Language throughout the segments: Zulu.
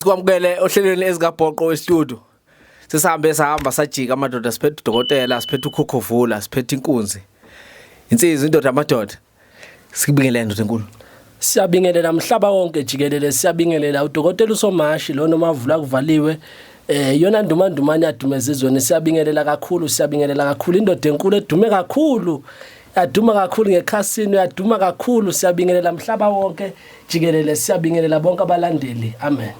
sikwamukele ohlelweni ezikabhoqo westudio sesihambe sahamba sajika amadoda siphethe udokotela siphethe ukhokhovula siphethe inkunzi insizwa indoda amadoda sikubingelele ndoda enkulu siyabingelela mhlaba wonke jikelele siyabingelela udokotela usomashi lona omavula kuvaliwe eh yona ndumandumane yadumeza izweni siyabingelela kakhulu siyabingelela kakhulu indoda enkulu edume kakhulu yaduma kakhulu ngekhasini yaduma kakhulu siyabingelela mhlaba wonke jikelele siyabingelela bonke abalandeli amen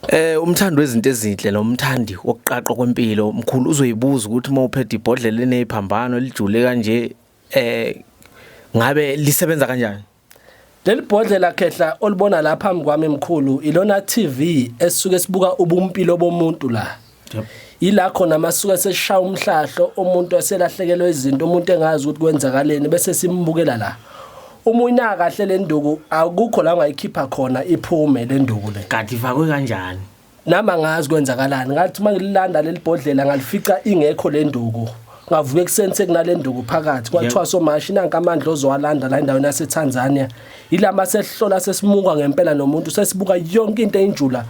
Eh umthandi wezinto ezinhle lo mthandi wokuqaqwa kwempilo mkhulu uzoyibuza ukuthi uma uphethe ibhodlela enephambano elijule kanje eh ngabe lisebenza kanjani Leli bhodlela khehla olibona la phambi kwami mkhulu ilona TV esuke sibuka ubumpilo bomuntu la. Yep. Ila khona masuka seshaya umhlahlo umuntu eselahlekelwe izinto umuntu engazi ukuthi kwenzakaleni bese simbukela la. Uma uyina kahle le nduku akukho la ungayikhipha khona iphume le nduku le. Kanti ifakwe kanjani? nami angazi kwenzakalani ngathi uma ngililanda leli bhodlela ngalifica ingekho le nduku ngavuka ekuseni sekunale nduku phakathi kwathiwa somashi nanka amandla ozowalanda la endaweni yaseTanzania yilama sehlola sesimuka ngempela nomuntu sesibuka yonke into eyinjula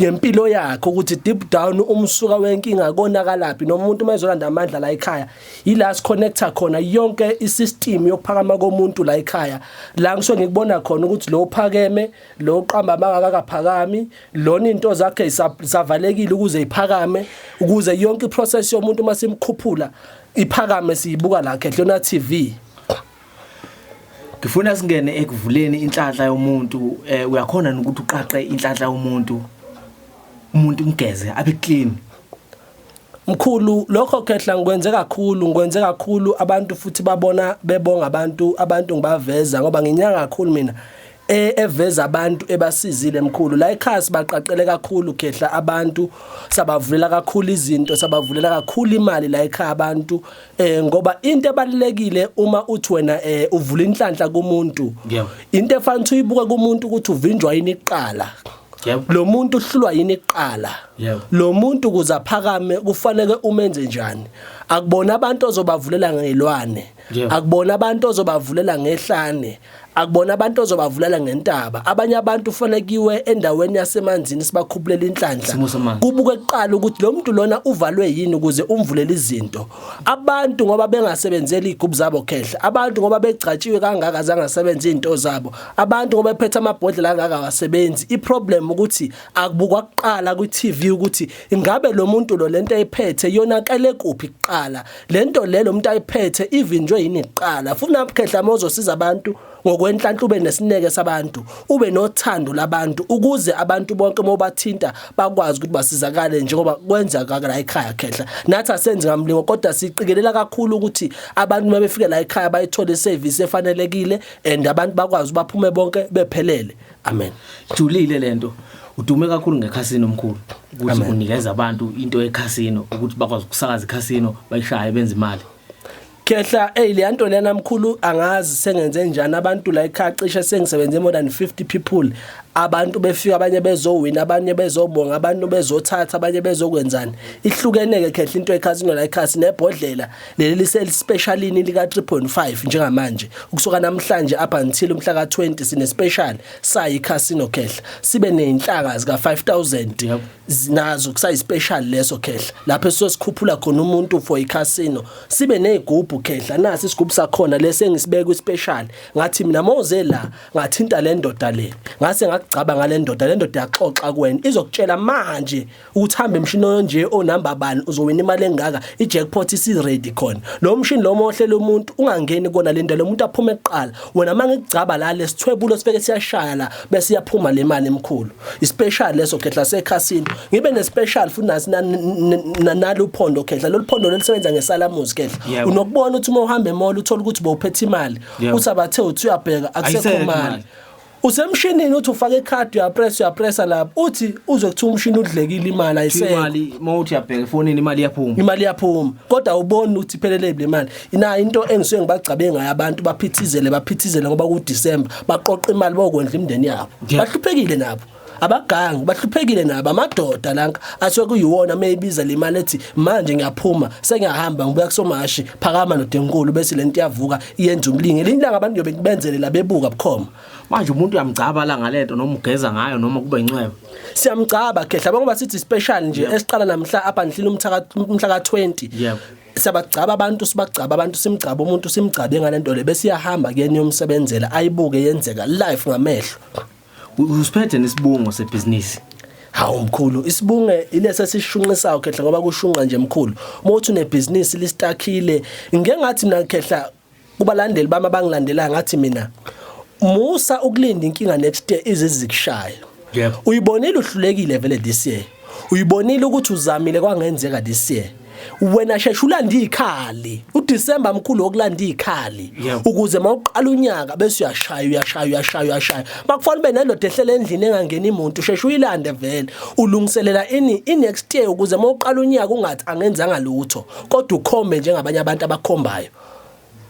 ngempilo yakhe ukuthi deep down umsuka wenkinga konakalaphi nomuntu uma ezolanda amandla la ekhaya yila siconnecta khona yonke isystem yokuphakama komuntu la ekhaya la ngisho ngikubona khona ukuthi lo phakeme lo uqamba amanga akakaphakami lona into zakhe isavalekile ukuze iphakame ukuze yonke iprocess yomuntu uma simkhuphula iphakame siyibuka la Khehlona TV ngifuna singene ekuvuleni inhlanhla yomuntu eh, uyakhona ukuthi uqaqe inhlanhla yomuntu umuntu umgeze abe clean Mkhulu lokho khehla ngikwenze kakhulu ngikwenze kakhulu abantu futhi babona bebonga abantu abantu ngibaveza ngoba nginyanga kakhulu mina e, eveza abantu ebasizile mkhulu la ekhasi baqaqele kakhulu khehla abantu sabavulela kakhulu izinto sabavulela kakhulu imali la ekhaya abantu eh ngoba into ebalekile uma uthi wena eh uvula inhlanhla kumuntu into efanele uyibuke kumuntu ukuthi uvinjwa yini iqala yebo lo muntu uhlulwa yini kuqala yebo lo muntu kuza phakame kufanele umenze njani akubona abantu ozobavulela ngelwane akubona abantu ozobavulela ngehlane akubona abantu ozobavulela ngentaba abanye abantu ufanele kiwe endaweni yasemanzini sibakhuphulele inhlanhla kubuke kuqala ukuthi lo muntu lona uvalwe yini ukuze umvulele izinto abantu ngoba bengasebenzeli igubhu zabo khehla abantu ngoba begcatshiwe kangaka zangasebenza izinto zabo abantu ngoba ephethe amabhodlela angaka awasebenzi iproblem ukuthi akubukwa kuqala ku TV ukuthi ingabe lo muntu lo lento ayiphethe yona qale kuphi kuqala lento le lo muntu ayiphethe ivinjwe yini kuqala funa mkhehla mozosiza abantu ngokwenhlanhla ube nesineke sabantu ube nothando labantu ukuze abantu bonke mobathinta bakwazi ukuthi basizakale njengoba kwenza kakala ekhaya khehla nathi asenzi ngamlingo kodwa siqikelela kakhulu ukuthi abantu mabefikela ekhaya bayithole service efanelekile and abantu bakwazi baphume bonke bephelele amen julile lento udume kakhulu ngekhasino omkhulu ukuthi unikeza abantu into yekhasino ukuthi bakwazi ukusakaza ikhasino bayishaye benze imali Khehla hey le nto lena mkhulu angazi sengenze njani abantu la ekhaya cishe sengisebenze more than 50 people abantu befika abanye bezowina abanye bezobonga abantu bezothatha abanye bezokwenzani ihlukeneke khehla into ekhasino la ekhasi nebhodlela leli lisespecialini lika 3.5 njengamanje ukusuka namhlanje up until umhla ka 20 sine special sayi casino khehla sibe nezinhlaka zika 5000 nazo kusayi special leso khehla lapho sizosikhuphula khona umuntu for i casino sibe nezigubhu khehla nasi isigubhu sakhona lesi engisibeka kwi special ngathi mina moze la ngathinta le ndoda le ngase ngakugcaba ngale ndoda le ndoda yaxoxa kuwena izokutshela manje uthamba emshini onje onumber bani uzowina imali engaka ijackpot isiready khona lo mshini lo mohlela umuntu ungangeni kona lento lo muntu aphume kuqala wena mangikugcaba la lesithwebulo sifeke siyashaya la bese iyaphuma le mali emkhulu ispecial leso khehla sekhasini ngibe nespecial futhi nasi naluphondo khehla loluphondo lelisebenza ngesalamuzi khehla unokubona ukuthi uma uhamba emall uthola ukuthi bowuphethe imali uthi abathe uthi uyabheka akusekho mali usemshinini uthi ufake ikhadi uyapressa uyapressa lapho uthi uze kuthiwa umshini udlekile imali ayisekho imali mawuthi yabheka efonini imali iyaphuma imali iyaphuma kodwa ubona ukuthi iphelele le mali ina into engisuke ngibagcabe ngayo abantu baphithizele baphithizele ngoba ku December baqoqa imali bokondla imndeni yabo bahluphekile nabo abagangi bahluphekile nabo amadoda lanka asuke kuyiwona meyibiza le mali ethi manje ngiyaphuma sengiyahamba ngibuya kusomashi phakama nodenkulu bese le nto iyavuka iyenza umlingi elinye ilanga abantu yobe kubenzele labebuka bukhoma manje umuntu uyamgcaba la ngalento noma ugeza ngayo noma kube incweba siyamgcaba khehla ngoba sithi special nje esiqala namhla up until umhla umhla ka 20 yebo siyabagcaba abantu sibagcaba abantu simgcaba umuntu simgcabe ngalento le bese iyahamba kuyena yomsebenzela ayibuke yenzeka live ngamehlo Usiphethe nesibungo sebhizinisi. Hawu mkhulu isibunge ilesa sishunqisayo khehla ngoba kushunqa nje mkhulu. Uma uthi unebhizinisi listakhile ngeke ngathi mina khehla kubalandeli bami abangilandelayo ngathi mina musa ukulinda inkinga next year izizikushayo. Yebo. Uyibonile uhlulekile vele this year. Uyibonile ukuthi uzamile kwangenzeka this year. wena shesha ulanda ikhali uDecember mkhulu wokulanda ikhali ukuze mawuqala unyaka bese uyashaya uyashaya uyashaya uyashaya makufanele ube nendoda ehlela endlini engangeni imuntu shesha uyilande vele ulungiselela ini i next year ukuze mawuqala unyaka ungathi angenzanga lutho kodwa ukhombe njengabanye abantu abakhombayo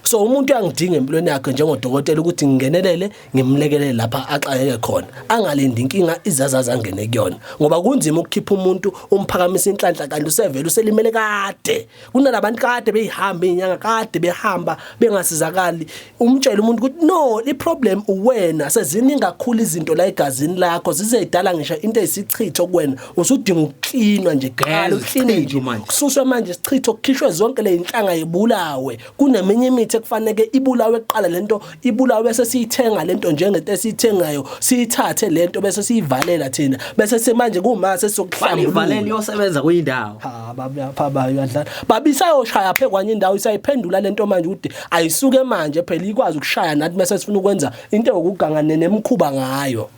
so umuntu uyangidinga empilweni yakhe njengodokotela ukuthi ngingenelele ngimlekelele lapha axakeke khona angalindi inkinga izazazi angene kuyona ngoba kunzima ukukhipha umuntu umphakamisa inhlanhla kanti usevele uselimele kade kunalabantu kade beyihamba inyanga kade behamba bengasizakali umtshela umuntu ukuthi no iproblem uwena seziningi kakhulu izinto la egazini lakho zizedala ngisho into ezisichitho kuwena usudinga ukuklinwa nje gala ukline nje kususwa manje sichitho kukhishwe zonke le inhlanga yebulawe kuneminye imithi ekufanele ibulawe kuqala lento ibulawe bese siyithenga lento njengento esiyithengayo siyithathe lento bese siyivalela thina bese semanje kuma sesokuhlambulula ivalela iyosebenza kuyindawo ha baba baba uyadlala baba isayoshaya phe kwanye indawo isayiphendula lento manje ukuthi ayisuke manje phela ikwazi ukushaya nathi mase sifuna ukwenza into yokuganga nemkhuba ngayo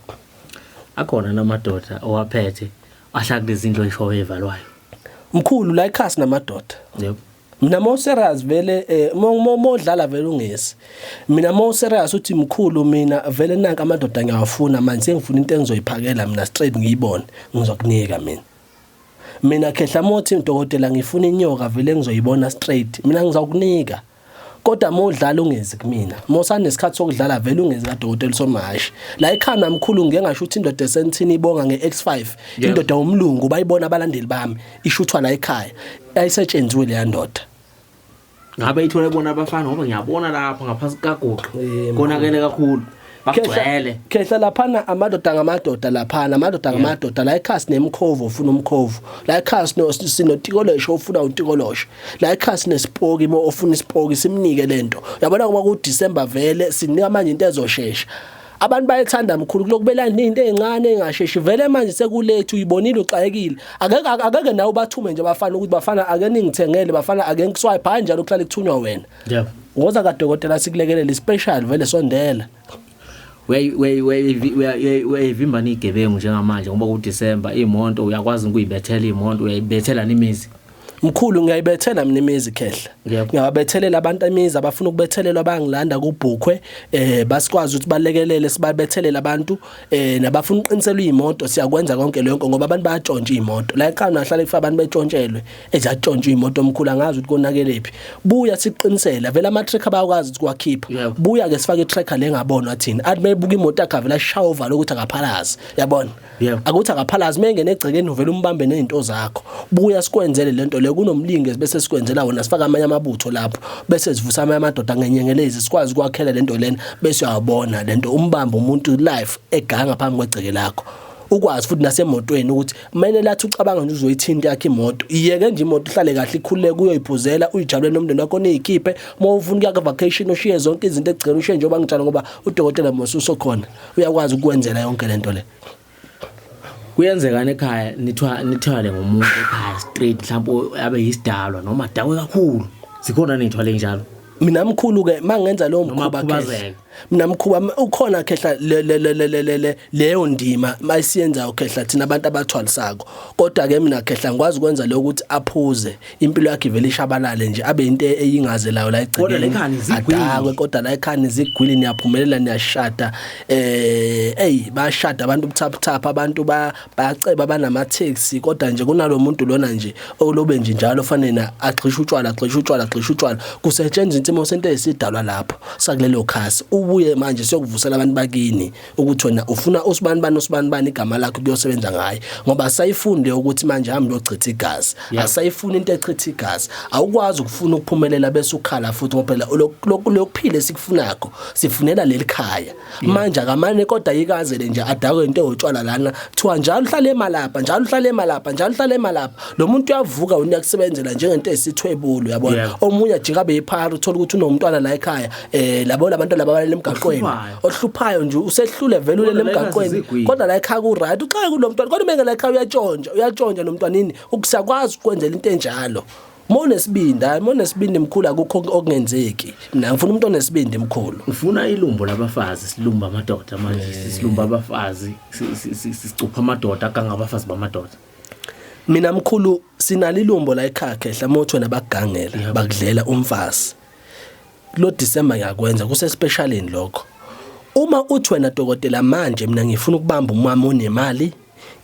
Akhona namadoda owaphethe ahlala kulezindlu eshowe evalwayo. Mkhulu la ikhasi namadoda. Yebo. Mina mo serious vele eh, mo modlala vele ungesi. Mina mo serious uthi mkhulu mina vele nanka amadoda ngiyawafuna manje sengifuna into engizoyiphakela mina straight ngiyibone ngizokunika mina. Mina khehla mothi udokotela ngifuna inyoka vele ngizoyibona straight mina ngizokunika. kodwa uma udlala ungezi kumina uma usanesikhathi sokudlala vele ungezi kadokotela usomahashi la ekhanda mkhulu ngike ngasho ukuthi indoda esentini ibonga nge-x5 indoda womlungu bayibona abalandeli bami ishuthwa la ekhaya ayisetshenziwe leya ndoda ngabe ithole bona abafana ngoba ngiyabona lapha ngaphansi kukagoqo konakele kakhulu bagcwele khehla laphana amadoda ngamadoda laphana amadoda ngamadoda la ekhasi nemkhovu ufuna umkhovu la ekhasi no sinotikolosho ufuna utikolosho la ekhasi nesipoki mo ofuna isipoki simnike lento yabona ngoba ku December vele sinika manje into ezoshesha abantu bayethanda mkhulu kulokubela into ezincane engasheshi vele manje sekulethu uyibonile uxakekile akeke akeke nawe bathume nje bafana ukuthi bafana ake ningithengele bafana ake ngiswipe hayi njalo kuhlale kuthunywa wena yebo woza kadokotela sikulekelele special vele sondela uyayivimbana igebengu njengamanje ngoba kuDecember imonto uyakwazi ukuyibethela imonto uyayibethela nimizi mkhulu ngiyayibethela mina imizi khehla ngiyababethelela abantu imizi abafuna ukubethelelwa bangilanda kubhukhwe eh basikwazi ukuthi balekelele sibabethelela abantu eh nabafuna uqinisela imoto siyakwenza konke lokho ngoba abantu bayatshontsha imoto la ekhaya nahlala ifa abantu betshontshelwe ezatshontshwa imoto omkhulu angazi ukuthi konakelephi buya siqinisela vele ama tracker bayakwazi ukuthi kwakhipha buya ke sifake tracker lengabonwa thina athi mebuka imoto yakhe vele ashaya uvalo ukuthi akaphalazi yabona akuthi akaphalazi mengene egcekeni uvela umbambe nezinto zakho buya sikwenzele lento le kunomlingi bese sikwenzela wona sifaka amanye amabutho lapho bese sivusa amanye amadoda ngenyengelezi sikwazi kwakhela lento lena bese uyabona lento umbamba umuntu life eganga phambi kwegceke lakho ukwazi futhi nasemotweni ukuthi kumele lathi ucabanga nje uzoyithinta yakhe imoto iyeke nje imoto ihlale kahle ikhululeke uyoyiphuzela uyijabule nomndeni wakho niyikhiphe uma ufuna ukuya ka-vacation ushiye zonke izinto ekugcina ushiye njengoba ngitshalo ngoba udokotela mose usokhona uyakwazi ukukwenzela yonke le nto le kuyenzekani ekhaya nithwa nithwale ngomuntu ekhaya straight mhlawumbe abe yisidalwa noma dakwe kakhulu zikhona nithwale njalo mina mkhulu ke mangenza lowo mkhuba mina mkhuba ukhona khehla leyo ndima mayisiyenzayo khehla thina abantu abathwalisako kodwa ke mina khehla ngikwazi ukwenza lokho ukuthi aphuze impilo yakhe vele ishabalale nje abe into eyingazelayo la egcikeni adakwe kodwa la ekhani zigwili niyaphumelela niyashada eh hey bashada abantu ubuthaphuthapha abantu bayaceba banamatheksi kodwa nje kunalomuntu lona nje olobe nje njalo fanele agxisha utshwala agxisha utshwala agxisha utshwala kusetshenzwa insimo sento esidalwa lapho sakulelo khasi ubuye manje siyokuvusela abantu bakini ukuthi wena ufuna usibani bani usibani bani igama lakho kuyosebenza ngaye ngoba asayifunde ukuthi manje hamba yochitha igazi asayifuna into echitha igazi awukwazi ukufuna ukuphumelela bese ukhala futhi ngoba phela lokuphila esikufunako sifunela lelikhaya manje akamane kodwa yikazele nje adakwe into yotshwala lana kuthiwa njalo uhlale emalapha njalo uhlale emalapha njalo uhlale emalapha lo muntu uyavuka wena uyakusebenzela njengento esithwebulo yabona omunye ajika beyiphara uthola ukuthi unomntwana la ekhaya eh labo labantu laba balele emgaqweni ohluphayo nje usehlule vele ulele emgaqweni kodwa la ekhaya ku right uxaka kulomntwana kodwa mengela ekhaya uyatshontsha uyatshontsha nomntwana ini ukusakwazi ukwenzela into enjalo Monesibindi hayi monesibindi mkhulu akukho okungenzeki mina ngifuna umuntu onesibindi mkhulu ufuna ilumbo labafazi silumba amadoda manje eh. silumba abafazi sicupha amadoda aganga abafazi bamadoda mina mkhulu sinalilumbo la ekhakhe hlamothwe nabagangela bakudlela umfazi lo December ngiyakwenza kuse specialini lokho uma uthi wena dokotela manje mina ngifuna ukubamba umama onemali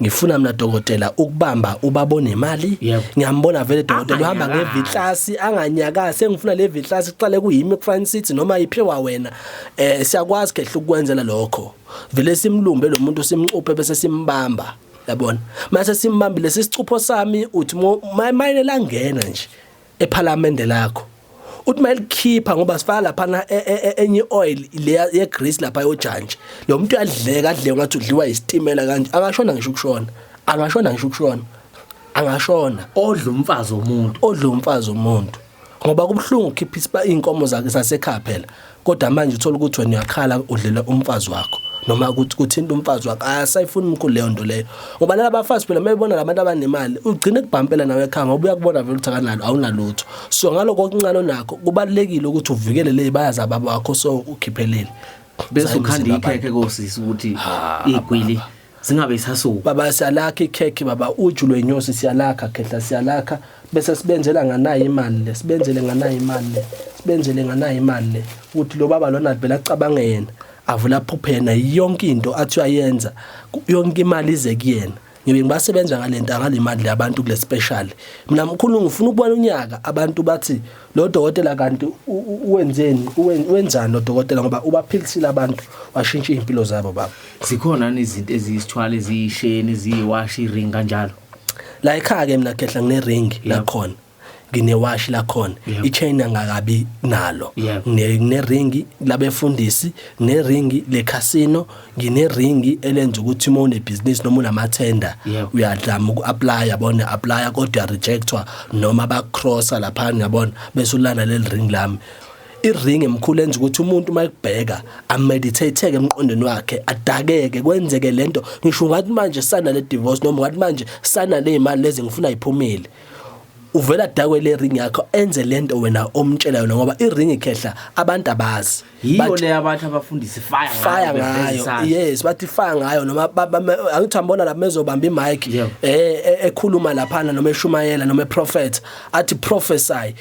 ngifuna mina dokotela ukubamba ubaba onemali ngiyambona vele dokotela uhamba ngevitlasi anganyakazi sengifuna le vitlasi kuqale kuyimi kufanele sithi noma iphiwa wena eh siyakwazi kehle ukukwenzela lokho vele simlumbe lo muntu simcuphe bese simbamba yabona mase simbambile sisicupho sami uthi mayinela ngena nje ephalamende lakho uthi mayilikhipha ngoba sifaka lapha na e, e, e, enye oil le ye grease lapha yojantshi lo muntu uyadleka adle ngathi udliwa isitimela kanje angashona ngisho ukushona angashona ngisho ukushona angashona odla umfazi womuntu odla umfazi womuntu ngoba kubuhlungu ukhipha isiba inkomo zakhe sasekhaya phela kodwa manje uthola ukuthi wena uyakhala udlela umfazi wakho noma ukuthi kuthinta umfazi wakhe asayifuni umkhulu leyo nto leyo ngoba laba bafazi phela mebona labantu abanemali ugcine kubhampela nawe ekhaya ngoba uyakubona vele ukuthi akanalo awunalutho so ngaloko okuncane onakho kubalekile ukuthi uvikele le bayazi ababa wakho so ukhiphelele bese ukhanda ikhekhe kosisi ukuthi igwili zingabe isasuka baba siyalakha ikhekhe baba uju lwenyosi siyalakha khehla siyalakha bese sibenzela nganayo imali le sibenzele nganayo imali le sibenzele nganayo imali le ukuthi lo baba lona vele acabange yena avula aphuphe yena yonke into athi uyayenza yonke imali ize kuyena ngibe ngibasebenza ngalento angalimali labantu kule special mina mkhulu ngifuna ukubona unyaka abantu bathi lo dokotela kanti wenzeni wenzani lo dokotela ngoba ubaphilisile abantu washintsha impilo zabo baba zikhona izinto eziyisithwala eziyisheni eziyiwashi iring kanjalo la ekhaya ke mina khehla ngine ring la khona nginewashi lakhona ichain angakabi nalo ngineringi labefundisi neringi lecasino ngineringi elenza ukuthi uma unebhizinisi noma unamathenda Yebo. uyadlama uku-aplaya yabona uya-aplaya kodwa uyarejectwa noma bakukrosa laphana yabona bese ulana leli ring lami iring emkhulu enza ukuthi umuntu uma ekubheka ameditatheke emqondweni wakhe adakeke kwenzeke lento ngisho ungathi manje sana le divorce noma ungathi manje sana le imali lezi ngifuna iphumele uvela adakwe le ring yakho enze lento wena omtshela yona ngoba iring ikhehla abantu abazi yiyo le abantu abafundisi fire fire ngayo yes bathi fire ngayo noma angithi ambona lapha mezobamba imic eh, eh ekhuluma lapha noma eshumayela noma prophet athi prophesy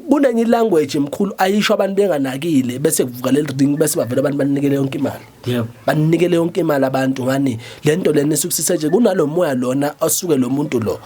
kunenye language emkhulu ayisho abantu benganakile bese kuvuka leli ring bese bavela abantu banikele yonke imali yebo banikele yonke imali abantu ngani lento lena esukusise nje kunalomoya lona osuke lo muntu lo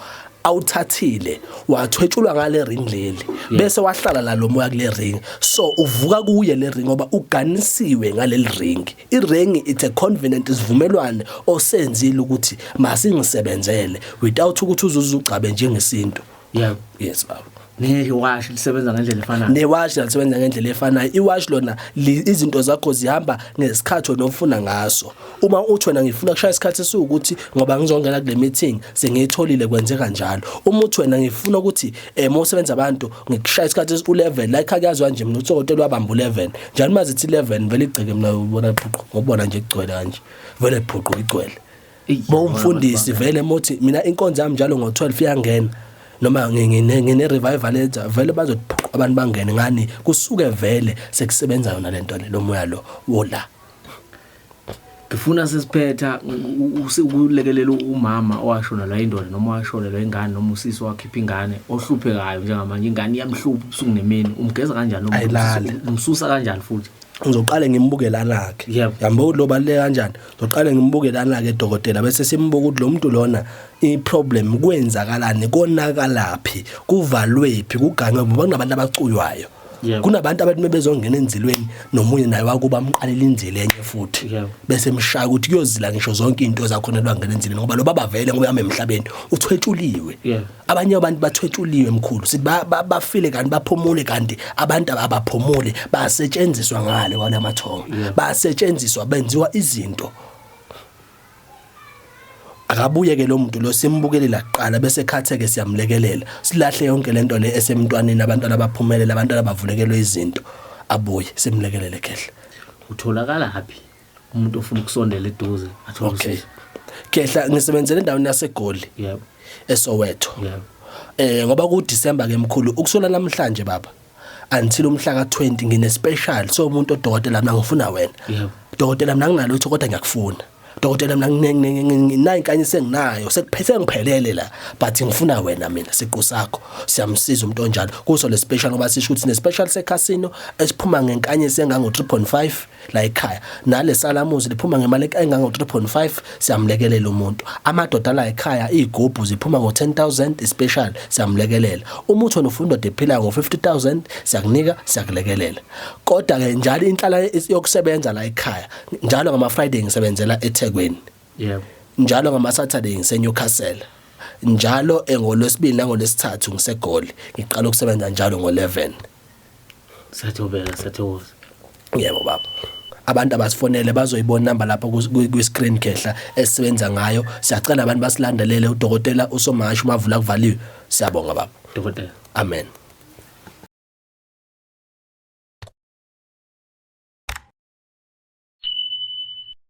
awuthathile wathwetshulwa ngale ring leli bese wahlala la lomoya kule ring so uvuka kuye le ring ngoba uganisiwe ngaleli ring i ring it's a covenant isivumelwane osenzile ukuthi masingisebenzele without ukuthi uzuze ugcabe njengesintu yebo yes baba newashi lisebenza ngendlela efanayo newashi lisebenza ngendlela efanayo iwashi lona izinto zakho zihamba ngesikhathi wena ofuna ngaso uma uthi wena ngifuna kushaya isikhathi esiwukuthi ngoba ngizongena kule meeting sengiyitholile kwenze kanjalo uma uthi wena ngifuna ukuthi eh mosebenza abantu ngikushaya isikhathi esi-11 la ekhaya kuyazwa nje mina utsokotela wabamba u-11 njalo uma zithi 11 vele igceke mina ubona phuqu ngobona nje kugcwele kanje vele phuqu igcwele bowumfundisi vele mothi mina inkonzo yami njalo ngo12 iyangena noma ngine ngine revival etha vele bazodiphuqa abantu bangene ngani kusuke vele sekusebenza yona lento le lomoya lo wola ngifuna sesiphetha ukulekelela umama owashona la indoda noma washona la ingane noma usisi wakhipha ingane ohluphekayo njengamanje ingane iyamhlupha ubusuku nemini umgeza kanjani umsusa kanjani futhi ngizoqale ngimbuke lanakhe yambo lo baleka kanjani Ngiqale ngimbuke lana ke dokotela bese simbuka ukuthi lo muntu lona iproblem kwenzakalani konakalaphi kuvalwephi kuganywe ngoba kunabantu abacuywayo. Yebo. Kunabantu abathi mebezongena enzilweni nomunye naye wakuba amqalela inzile enye futhi Yebo. bese emshaya ukuthi kuyozila ngisho zonke into ezakhona lwangena enzilweni ngoba lo baba vele ngoba yami emhlabeni uthwetshuliwe. Yebo. abanye abantu bathwetshuliwe mkhulu sithi bafile kanti baphumule kanti abantu abaphumule basetshenziswa ngale wala mathongo basetshenziswa benziwa izinto akabuye ke lo muntu lo simbukelela kuqala bese khatheke siyamlekelela silahle yonke lento le esemntwaneni abantwana baphumelele abantwana bavulekelwe izinto abuye simlekelele khehle utholakala happy umuntu ofuna ukusondela eduze athole okay. usizo khehla ngisebenzele endaweni yasegoli yebo esoweto yebo eh ngoba ku December ke mkhulu ukusula namhlanje baba until umhla ka20 ngine special so umuntu odokotela mina ngifuna wena yebo dokotela mina nginalo ukuthi kodwa ngiyakufuna dokotela mina nginayo kanye senginayo sekuphethe ngiphelele la but ngifuna wena mina siqu sakho siyamsiza umuntu onjalo kuso le special ngoba sisho ukuthi ne special se casino esiphuma ngenkanye sengango 3.5 la ekhaya nale salamuzi liphuma ngemali engango 3.5 siyamlekelela umuntu amadoda la ekhaya izigubhu ziphuma ngo 10000 special siyamlekelela umuthi onufunda dephila ngo 50000 siyakunika siyakulekelela kodwa ke njalo inhlala yokusebenza la ekhaya njalo ngama friday ngisebenzela eThekwini yebo njalo ngama saturday ngise Newcastle njalo engolwesibili nangolwesithathu ngisegoli ngiqala ukusebenza njalo ngo 11 Sathobeka sathokoza. Yebo baba. abantu abasifonele bazoyibona number lapho kwi screen khehla esisebenza ngayo siyacela abantu basilandelele udokotela usomashu bavula kuvaliwe siyabonga baba dokotela amen